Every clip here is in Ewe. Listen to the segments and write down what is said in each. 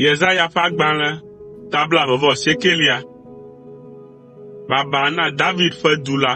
Yesaya ƒe agbalẽ ta blaeve vɔ siekelia. Baba na David ƒe du la.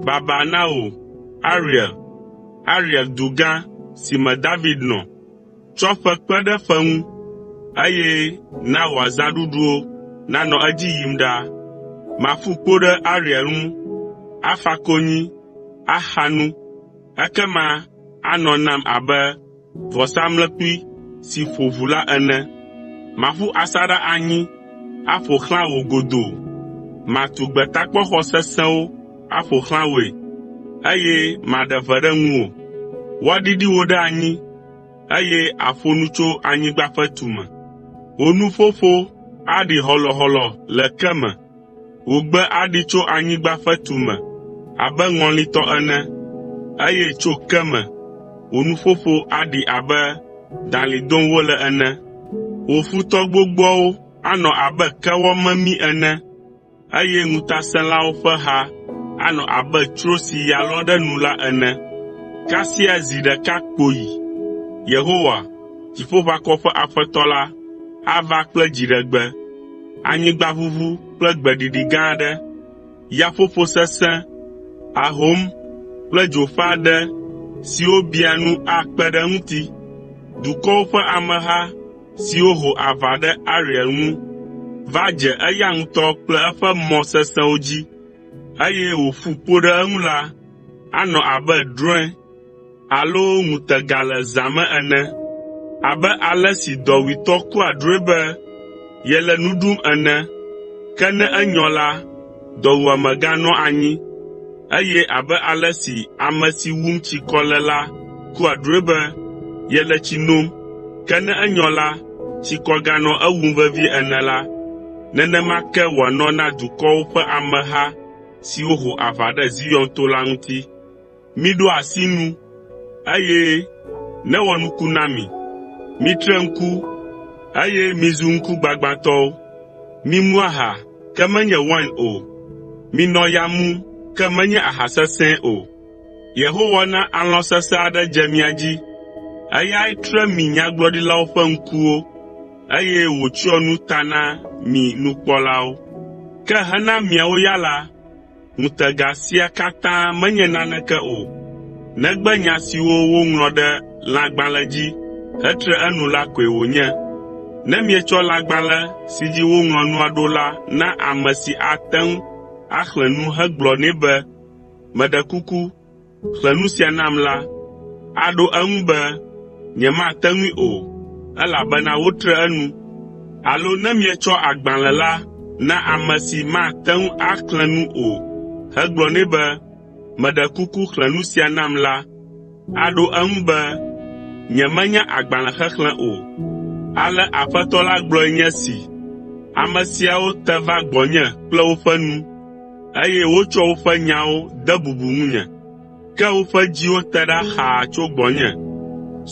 Baba na wò, Ariel, Ariel du gã si me David nɔ. Tsɔ ƒe kpe ɖe ƒe ŋu, eye na wò azãɖuɖuwo nanɔ edzi yim ɖaa. Maƒu kpo ɖe Ariel ŋu, afa konyi, axa nu, Ekema anɔ nam abe vɔsamlekpui si ƒo ʋu la ene. Maƒu asaɖa anyi aƒo xlã wò godoo. Matu gbetakpɔxɔ sesẽwo aƒo xlã wòe, eye maɖe ʋe ɖe ŋuwò. Woaɖiɖi wò ɖe anyi, eye àƒo nu tso anyigba ƒe tume. Wò nuƒoƒo aɖi hɔlɔhɔlɔ le ke me. Wògbe aɖi tso anyigba ƒe tume abe ŋɔli tɔ ene, eye tso ke me wò nuƒoƒo aɖi abe dalĩ dom wole ene. Wò futɔ gbogboawo anɔ abe kewɔ memi ene, eye ŋutasẽlawo ƒe ha anɔ abe tsro si ya lɔ ɖe nu la ene. Kasia zi ɖeka kpoyi Yehowa, Dziƒoʋakɔwo ƒe Aƒetɔ la, ava kple dziɖegbe. anyigbaʋuʋu kple gbeɖiɖi gã aɖe, yaƒoƒo sesẽ, ahom kple dzo ƒe aɖe siwo bia nu akpe ɖe eŋuti. Dukɔwo ƒe ameha siwo ho aʋa ɖe Ariel ŋu va dze eya ŋutɔ kple eƒe mɔ sesẽwo dzi, eye wòƒu kpo ɖe eŋu la, anɔ abe drɔ̃e alo ŋutega le zã me ene. Abe ale si dɔwuitɔ kua drɔ̃e be yele nu ɖum ene ke ne enyɔ la, dɔwuame ganɔa anyi, eye abe ale si ame si wum tsikɔ le la kua drɔ̃e be yele tsi nom ke ne enyɔ la, tsikɔ ganɔa ewum vevie ene la, nenema ke wòanɔ na dukɔwo ƒe ameha siwo ho aʋa ɖe Zion to la ŋuti. Miɖo asi nu, eye newɔ nuku na mi. Mitre ŋku, eye mizu ŋkugbagbãtɔwo. Mimu aha, ke menye wain o. Minɔ ya mum, ke menye aha sesẽ o. Yehowa na alɔ̃ sesẽ aɖe dze mia dzi. Eyae tre mi nyagblɔɖilawo ƒe ŋkuwo, eye wòtsyɔ nu ta na mi nukpɔlawo. Ke hena miawo ya la, Ŋutega sia katã menye naneke o negbe nya siwo woŋlɔ ɖe lãgbalẽ dzi hetre enu la koe wònye. Ne mietsɔ lãgbalẽ si dzi woŋlɔ nua ɖo la na ame si ate ŋu axlẽ nu hegblɔ nɛ be, “Meɖe kuku, ƒle nu sia nam la, aɖo eŋu be, “Nyemate ŋui o, elabena wotre enu.” Alo ne mietsɔ agbalẽ la na ame si mate ŋu axlẽ nu o hegblɔ nɛ be, “Meɖe kuku xlẽ nu sia nam” la, aɖo eŋu be, “Nyemenya agbalẽ xexlẽ o.” Ale Aƒetɔ la gblɔe nye esi, “Ame siawo te va gbɔnye kple woƒe nu, eye wotsɔ woƒe nyawo de bubu ŋunye. Ke woƒe dziwo te ɖa xaa tso gbɔnye.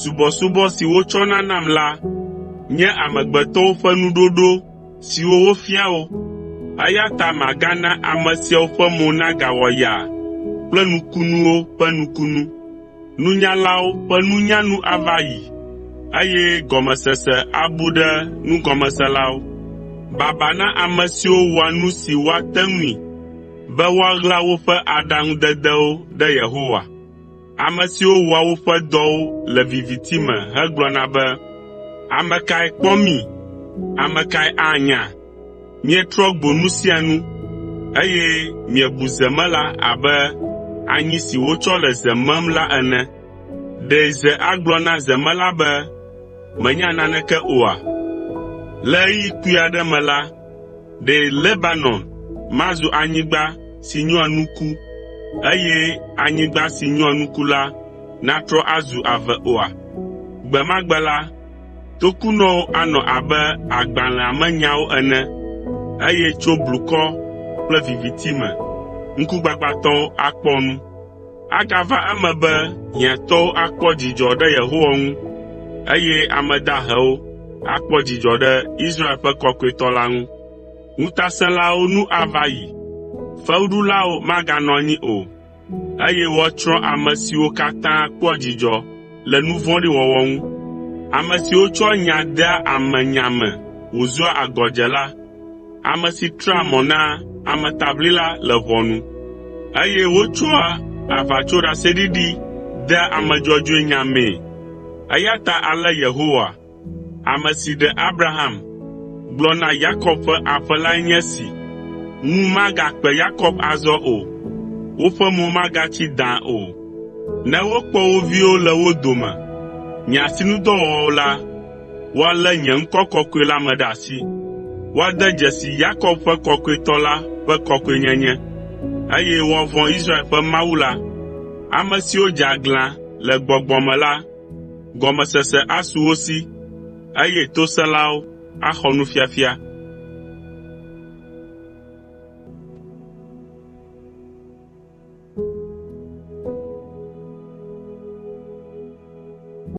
Subɔsubɔ si wotsɔna nam la nye amegbetɔwo ƒe nuɖoɖo siwo wofia wo. Eya ta magana ame siawo ƒe mo nagawɔ yaa kple nukunuwo ƒe nukunu. Nunyalawo ƒe nunya nu ava ayi, eye gɔmesese abu ɖe nugɔmeselawo. Baba na ame siwo wɔa nu si woate ŋui be woaɣla woƒe aɖaŋudedewo ɖe Yehowa, ame siwo wɔa woƒe dɔwo le viviti me hegblɔna be, “Ame kae kpɔ mí? Ame kae anya?” Mietrɔ gbo nu sia nu, eye miebu zemela abe anyi si wotsɔ le ze mem la ene. Ɖe ze agblɔ na zemela be, “Mènya naneke oa?” Le ɣeyiɣi kpui aɖe me la, ɖe Lebanon mazu anyigba si nyɔa nuku, eye anyigba si nyɔa nuku la natrɔ azu ave oa? Gbe ma gbe la, Tokunɔwo anɔ abe agbalẽa me nyawo ene, eye tso blukɔ kple viviti me ŋkugbagbãtɔwo akpɔ nu. Agava eme be hiãtɔwo akpɔ dzidzɔ ɖe Yehowa ŋu, eye ame dahewo akpɔ dzidzɔ ɖe Israel ƒe Kɔkɔetɔ la ŋu. Ŋutasẽlawo nu ava yi, fewuɖulawo maganɔ anyi o. eye woatsrɔ̃ ame siwo katã kpɔa dzidzɔ le nu vɔ̃ɖi wɔwɔ ŋu. Ame siwo tsɔa nya dea ame nya me wòzua agɔdzela, ame si trea mɔ na ametaʋlila le ʋɔnu, eye wotsɔa aʋatsoɖaseɖiɖi dea ame dzɔdzɔe nya mee. Eya ta ale Yehowa, Ame si ɖe Abraham gblɔ na Yakob ƒe aƒe lae nye esi, “Ŋu magakpe Yakob azɔ o, woƒe mo magatsi dãa o, ne wokpɔ wo viwo le wo dome, nye asinudɔwɔwɔ la, woalé nye ŋkɔ kɔkɔe la me ɖe asi. Woade dzesi Yakob ƒe Kɔkɔetɔ la ƒe kɔkɔenyenye, eye woavɔ̃ Israel ƒe Mawu la. Ame siwo dze aglã le gbɔgbɔ me la Gɔmesese asu wo si, eye tosẽlawo axɔ nufiafia.”